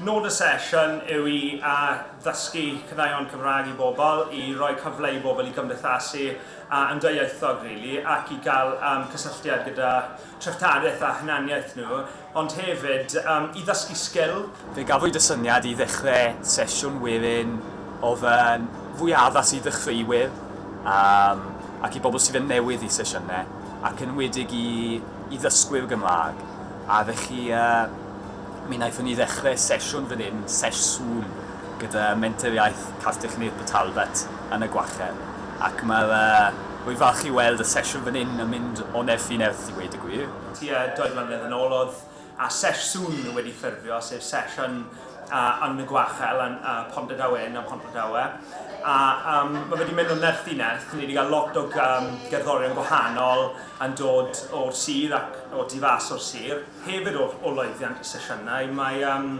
Nod y sesiwn yw i a ddysgu caneuon Cymraeg i bobl, i roi cyfle i bobl i gymdeithasu a yn dwyieithog rili ac i gael um, cysylltiad gyda treftadaeth a hunaniaeth nhw. ond hefyd i ddysgu sgil. Fe gafwyd y syniad i ddechrau sesiwn werin o fewn fwy addas i ddechreuwyr ac i bobl sydd yn newydd i sesiynau ac yn enwedig i ddysgwyr Gymraeg a felly mi wnaethon ni ddechrau sesiwn fan hyn, sesh Zoom, gyda Menter Iaith Castell Nedd Port Talbot yn y Gwallhau ac mae rwy'n falch i weld y sesiwn fan hyn yn mynd o nerth i nerth i ddweud y gwir. Tua dou flynedd yn ôl oedd a Sesh Soon wedi ffurfio, sef Sesh yn Yn y Gwachel, yn Ponderdau Wen a Mhonderdau, a um, mae wedi mynd o nerth i nerth, ni wedi cael lot o um, gerddorion gwahanol yn dod o'r sir ac o tu fas o'r sir, hefyd o, o loeddiant y sesiynau. Mae um,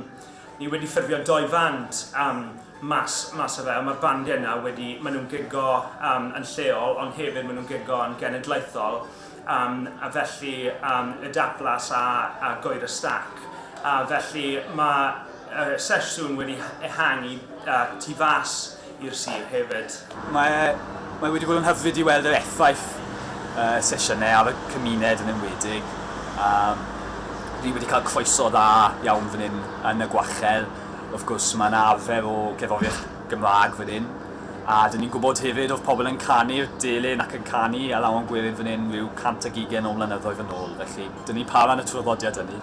ni wedi ffurfio doi fand um, mas, mas o fe, mae'r bandiau yna wedi, maen nhw'n gigo um, yn lleol, ond hefyd maen nhw'n gigo yn genedlaethol, Yym, a felly yym y dablas a a goer y stac. A felly mae y sesiwn wedi ehangu yy tu fas i'r sir hefyd. Mae mae wedi bod yn hyfryd i weld yr effaith y sesiynau ar y cymuned yn enwedig. Yym, dwi wedi cael croeso dda iawn fan hyn yn y Gwachel. Wrth gwrs, mae 'na arfer o gerddoriaeth Gymraeg fan hyn. A dyn ni'n gwybod hefyd oedd pobl yn canu'r delyn ac yn canu ar Afon Gwerin fan hyn ryw cant ag ugain o flynyddoedd yn ôl, felly dyn ni'n para yn y traddodiad hynny.